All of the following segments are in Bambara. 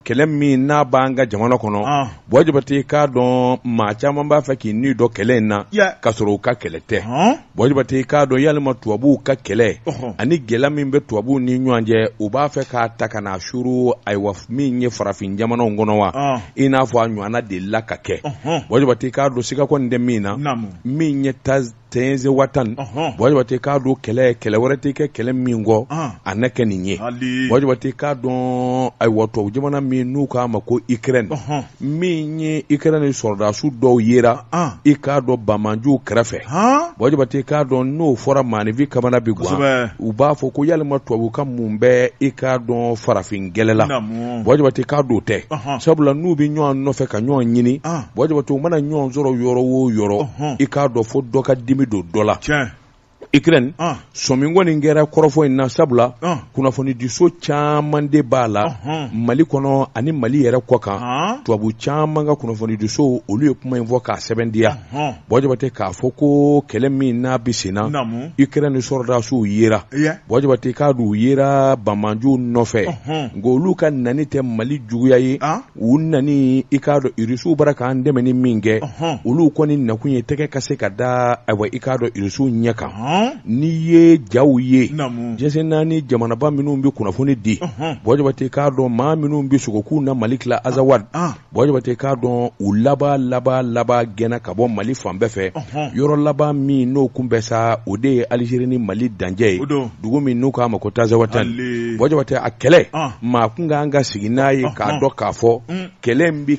kɛlɛ min n'a b'an ka jamana kɔnɔ ah. bɔ jabati k'a dɔn maa caman b'a fɛ k'i ni don kɛlɛ in na ka sɔrɔ u ka kɛlɛ tɛ bɔ jabati k'a dɔn yalima tubabuw ka kɛlɛ ani gɛlɛya min bɛ tubabuw ni ɲɔgɔn cɛ u b'a fɛ k'a ta ka n'a suuru ayiwa min ye farafin jamanaw kɔnɔ wa ah. i n'a fɔ a ɲɔgɔnna delila ka kɛ bɔ jabati k'a dɔn siga kɔni tɛ min na min ye ta tɛnzawatan bɔjate k'a dɔn kɛlɛ kɛlɛ wɛrɛ tɛ kɛ kɛlɛ min kɔ a ne kɛ nin ye bɔjate k'a dɔn ayiwa tubabu jamana min n'u k'a ma ko ukraine min ye ukraine sɔrɔdasiw dɔw yera i k'a dɔn banbanjuw kɛrɛfɛ bɔjate k'a dɔn n'o fɔra maaninfin kamana bɛ gan u b'a fɔ ko yalima tubabu ka mun bɛ i k'a dɔn farafin kɛlɛ la bɔjate k'a dɔn tɛ sabula n'u bɛ ɲɔgɔn nɔfɛ ka ɲɔgɔn ɲini bɔjɔbato u mana ɲɔgɔn sɔrɔ yɔrɔ o yɔrɔ i k'a dɔn fo dɔ ka dimi don dɔ la ukraine sɔmin kɔni kɛra kɔrɔfɔ in na sabula kunnafonidiso caman de b'a la mali kɔnɔ ani mali yɛrɛ kɔ kan tubabu caman ka kunnafonidiso olu ye kuma in fɔ k'a sɛbɛntiya bɔjaba tɛ k'a fɔ ko kɛlɛ min n'a bɛ senna ukraine sɔrɔdasiw yera bɔjaba tɛ i k'a dɔn u yera banbanjuw nɔfɛ nka olu ka nani tɛ mali juguya ye u nani i k'a dɔn irisiw bara k'an dɛmɛni min kɛ olu kɔni nakun ye tɛgɛ ka se ka da ayiwa i k'a dɔn irisiw ɲɛ kan n'i ye jaw ye jɛnsɛnna ani jamanaba minnu bɛ kunnafoni di bɔjabate k'a dɔn maa minnu bɛ sogo k'u na mali tila azawadi bɔjabate k'a dɔn u laban laban laban gɛnna ka bɔ mali fan bɛɛ fɛ yɔrɔ laban min n'o kun bɛ sa o de ye alizeri ni mali dancɛ ye dugu min n'u k'a ma ko tazawatani Hali. bɔjɔ tɛ a kɛlɛ Ɔn. maa kun kan ka sigi n'a ye k'a Ɔhɔn. dɔn k'a fɔ Mm. kɛlɛ in bɛ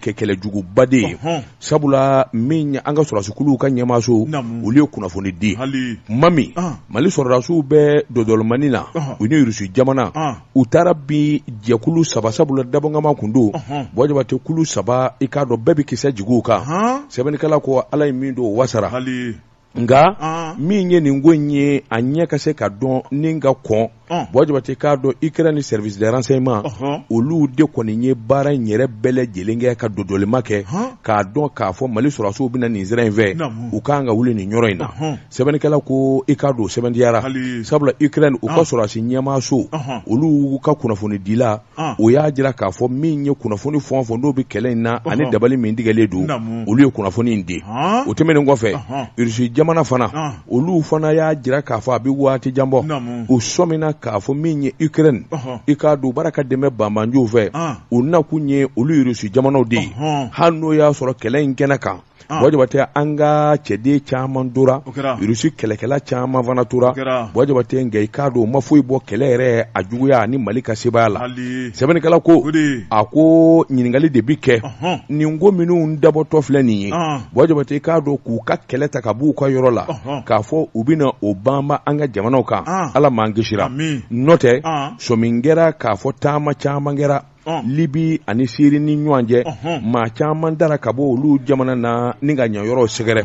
kɛ kɛlɛ juguba de ye Ɔhɔn. sabula min an ka sɔrɔdasikuruw ka ɲɛmaaso Naamu. olu ye kunnafoni di hali kuma min Ɔn. mali sɔrɔdasiw bɛ dɔdɔlɔmani na Ɔhɔn. u ni irisi jamana Ɔn. u taara bin jɛkulu saba sabula dabɔnkama kun don Ɔhɔn. bɔjɔ tɛ kulu saba i k'a dɔn bɛɛ bɛ kisɛ jigi u kan Ɔhɔn. sɛbɛnnikɛla ko ala ye min don o wasara hali nka ah. min ye nin ko in ye a ɲɛ ka se ka dɔn ni ka kɔn ah. bɔ jabati k'a dɔn ukraine service de renseignement uh-huh. olu de kɔni ye baara in yɛrɛ bɛɛ lajɛlen kɛ ka dodolima kɛ k'a dɔn k'a fɔ mali sɔrɔdasiw bɛna nin sira in fɛ u kan ka wuli nin yɔrɔ in na uh-huh. sɛbɛnnikɛla ko i k'a dɔn sɛbɛntiyara sabula ukraine u ka ah. sɔrɔdasi ɲɛmaaso uh-huh. olu ka kunnafonidila o y'a jira k'a fɔ min ye kunnafoni fɔ fɔ n'o bɛ kɛlɛ in na ani dabali min tigɛlen don olu ye kunnafoni in di o tɛmɛnen kɔfɛ irisi jamana fana olu fana y'a jira k'a fɔ a bɛ waati jan bɔ u sɔminna k'a fɔ min ye ukraine i k'a dɔn baara ka dɛmɛ banbanjuw fɛ u nakun ye olu irisi jamanaw de ye hali n'o y'a sɔrɔ kɛlɛ in kɛnɛ kan Buwa Jabatɛ an ka cɛden caman tora rusi kɛlɛkɛla caman fana tora buwa jabatɛ nka i k'a dɔn u ma foyi bɔ kɛlɛ yɛrɛ a juguya ani mali ka sebaaya la sɛbɛnnikɛla ko a ko ɲininkakali de bɛ kɛ nin ko minnu dabɔtɔ filɛ nin ye buwa jabatɛ i k'a dɔn k'u ka kɛlɛ ta ka b'u ka yɔrɔ la k'a fɔ u bɛna o banba an ka jamanaw kan ala m'an kisira n'o tɛ sɔmi kɛra k'a fɔ taama caman kɛra libi ani siri ni ɲɔgɔn cɛ maa caman tara ka bɔ olu jamana na ni ka yan yɔrɔ sɛgɛrɛ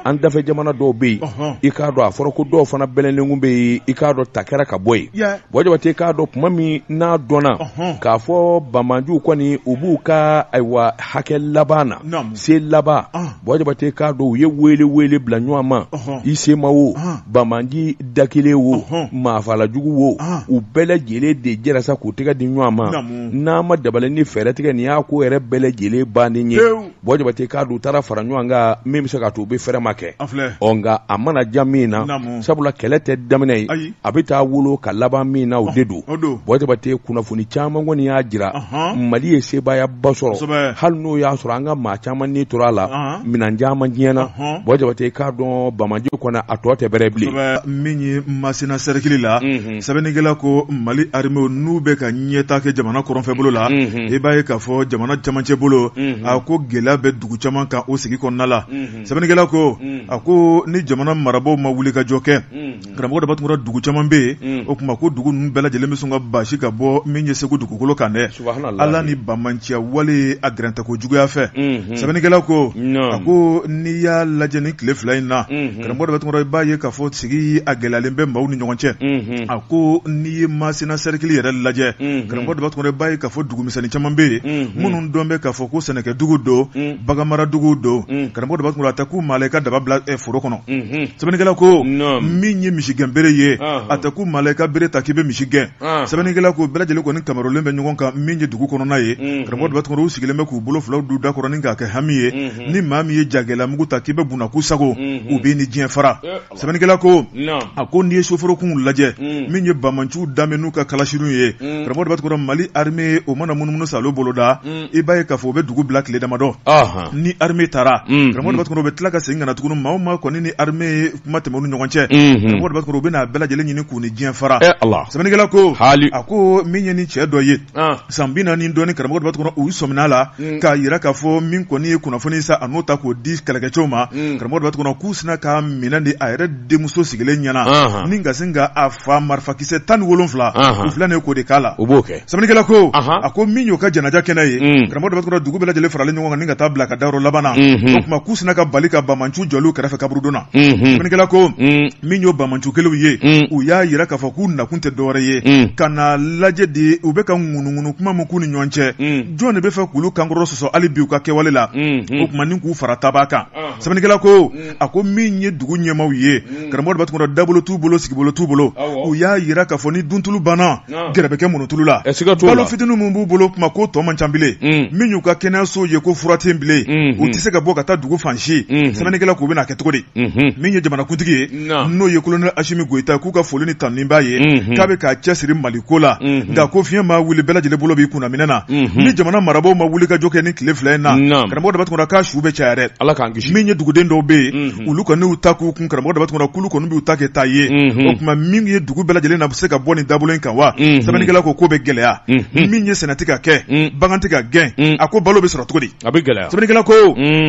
an dafɛ jamana dɔw bɛ yen i k'a dɔn a fɔra ko dɔw fana bɛlɛnlen tun bɛ yen i k'a dɔn ta kɛra ka bɔ yen buwa jabatɛ k'a dɔn tuma min n'a dɔnna k'a fɔ banbanciw kɔni u b'u ka ayiwa hakɛ laban na se laban buwa jabatɛ k'a dɔn u ye weele weele bila ɲɔgɔn ma i CMA wo banbanci da kelen wo maafalajugu wo u bɛɛ lajɛlen de jɛra sa k'u tɛgɛ di ɲɔgɔn ma n'a ma dabali ni fɛɛrɛ tigɛ nin y'a ko yɛrɛ bɛɛ lajɛlen banni ye buwa jabatɛ k'a dɔn u taara fara ɲɔgɔn kan min bɛ se ka to u bɛ fɛrɛ ma kɛ o nka a mana ja min na sabula kɛlɛ tɛ daminɛ ye a bɛ taa wolo ka laban min na o de don buwa jabatɛ kunnafoni caman kɔni y'a jira mali ye sebaayaba sɔrɔ hali n'o y'a sɔrɔ an ka maa caman ni tora a la minɛn caman tiɲɛna buwa jabatɛ k'a dɔn banbanci kɔni a tɔ tɛ bɛrɛ bilen min ye masina sɛrikili la sɛbɛnnikɛla ko mali armew n'u bɛ ka ɲɛta kɛ jamana kɔrɔnfɛ bolo la i b'a ye k'a fɔ jamana camancɛ bolo a ko gɛlɛya bɛ dugu caman kan o sigi kɔnɔna la sɛbɛnnikɛla ko a ko ni jamana marabagaw ma wulikajɔ kɛ karamɔgɔ daba tunkara dugu caman bɛ yen o tuma ko dugu ninnu bɛɛ lajɛlen bɛ sɔn ka basi ka bɔ min ye segu dugukolo kan dɛ ala ni banbanciya wale a gɛrɛntɛ ko juguya fɛ sɛbɛnnikɛla ko a ko n'i y'a lajɛ ni tile fila in na karamɔgɔ daba tunkara i b'a ye k'a fɔ sigi a gɛlɛyalen bɛ maaw ni ɲɔgɔn cɛ a ko n'i ye masina sɛrikili yɛrɛ lajɛ karamɔgɔ daba tunkara i b'a ye k'a fɔ dugu misɛnnin caman bɛ yen minnu dɔn bɛ k'a fɔ ko sɛnɛkɛ dugu don baganmaradugu don mm. karamɔgɔ daba tunkara a tɛ kun maa la i ka daba bila eh, foro kɔnɔ mm-hmm. sɛbɛnnikɛla ko min ye misi gɛn bere ye uh-huh. a tɛ kun maa la i ka bere ta k'i bɛ misi gɛn uh-huh. sɛbɛnnikɛla ko bɛɛ lajɛlen kɔni kamarolen bɛ ɲɔgɔn kan min ye dugu kɔnɔna ye mm-hmm. karamɔgɔ daba tunkara u sigilen bɛ k'u bolo filaw don u da kɔrɔ ni k'a kɛ hami ye mm-hmm. ni maa min ye jagɛla mugu ta k'i bɛ bunakuu sago u b'i ni diɲɛ fara sɛbɛnnikɛla ko a ko n'i ye soforokun lajɛ min ye banbanciw da n'u ka kalasiw ye karamɔgɔ daba tunkara mali arme o mana munumunu sa boloda i b'a ye k'a fɔ u bɛ dugu bila tile damadɔ ni arme taara karamɔgɔ daba tunkara u bɛ tila ka segin ka na tugun maa o maa kɔni ni arme ye kuma tɛmɛ u ni ɲɔgɔn cɛ karamɔgɔ daba tunkara u bɛna a bɛɛ lajɛlen ɲini k'u ni diɲɛ fara sɛbɛnnikɛla ko a ko min ye ni cɛ dɔ ye san bi naani dɔɔni karamɔgɔ daba tunkara u sɔmin'a la mm. k'a jira k'a fɔ min kɔni ye kunnafoni ye sa a n'o ta k'o di kɛlɛkɛcɛw ma mm. karamɔgɔ daba tunkara k'u sina k'a minɛ de a yɛrɛ denmuso sigilen ɲɛna ni ka sin ka a fa marifakisɛ tan ni wolonfila u filɛ nin ye k'o de k'a la sɛbɛnnikɛla ko a ko min y'o ka janaja kɛnɛ ye mm. karamɔgɔ daba tunkara dugu bɛɛ lajɛlen faralen ɲɔgɔn kan ni ka taa bila ka dayɔrɔ laban na mm-hmm. o tuma k'u sina ka bali ka banmanciw jɔlen u kɛrɛfɛ kaburudon na mm-hmm. sɛbɛnnikɛla ko min y'o banmanciw kelenw ye mm. u y'a jira k'a fɔ k'u nakun tɛ dɔwɛrɛ ye mm. ka na lajɛ de u bɛ ka ŋunuŋunu kuma min k'u ni ɲɔgɔn cɛ mm. jɔn de b'a fɛ k'olu kankɔrɔ sɔsɔ hali bi u ka kɛwale la mm-hmm. o tuma ni k'u fara tabaa kan ah. sɛbɛnnikɛla ko a ko min ye dugu ɲɛmaw ye karamɔgɔ daba tunkara dabolo t'u bolo sigibolo t'u bolo u y'a jira k'a fɔ ni duntulu banna Nka. gɛrɛ bɛ kɛ muntulu la Ɛ, siga t'o la. balo fitinin minnu b'u bolo kuma k'o tɔ man ca bilen Mm. min y'u ka kɛnɛyasow ye ko fura tɛ yen bilen Mhm. u tɛ se ka bɔ ka taa dugu fan si Mhm. sɛbɛnnikɛla k'u bɛna kɛ cogo di Mhm. min ye jamanakuntigi ye Nka. n'o ye kolonɛli asimi goyita ye k'u ka foli ni tanuni b'a ye Mhm. k'a bɛ k'a cɛsiri mali ko la Mhm. nka ko fiɲɛ ma wuli bɛɛ lajɛlen bolo b'i kunna minɛn na Mhm. ni jamana marabaaw ma wuli ka jɔ kɛ nin tile fila in na Nka. karamɔgɔ daba tunkara su bɛ caya dɛ ala k'an kisi min ye duguden dɔw bɛ yen Mhm. olu kɔni y'u ta k'u kun karamɔgɔ daba tunkara k'olu kɔni b'u ta kɛ taa ye Mhm. o tuma min ye dugu bɛɛ lajɛlen na bɛ se ka bɔ nin dabolo in kan wa sɛbɛnnikɛla ko k'o bɛ gɛlɛya min ye sɛnɛ tɛ ka kɛ bagan tɛ ka gɛn a ko balo bɛ sɔrɔ cogo di a bɛ gɛlɛya sɛbɛnnikɛla ko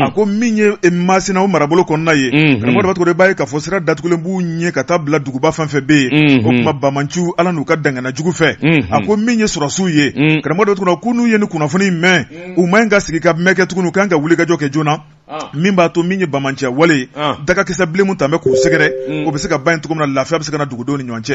a ko min ye masina o marabolo kɔnɔna ye karamɔgɔ daba tunkara b'a ye k'a fɔ sira datugulen b'u ɲɛ ka taa bila duguba fɛn fɛn bɛ yen o tuma banmanciw ala n'u ka dangana jugu fɛ a ko min ye sɔrɔdasiw ye karamɔgɔ daba tunkara ko n'u ye nin kunnafoni mɛn u man ɲi ka sigi ka mɛn kɛ tugun u kan ka wuli ka jɔ kɛ joona min b'a to min ye banmanciya wale dagakisɛ bilen min tun bɛ k'u sɛgɛrɛ o bɛ se ka ban cogo min na lafiya bɛ se ka na dugudenw ni ɲɔgɔn cɛ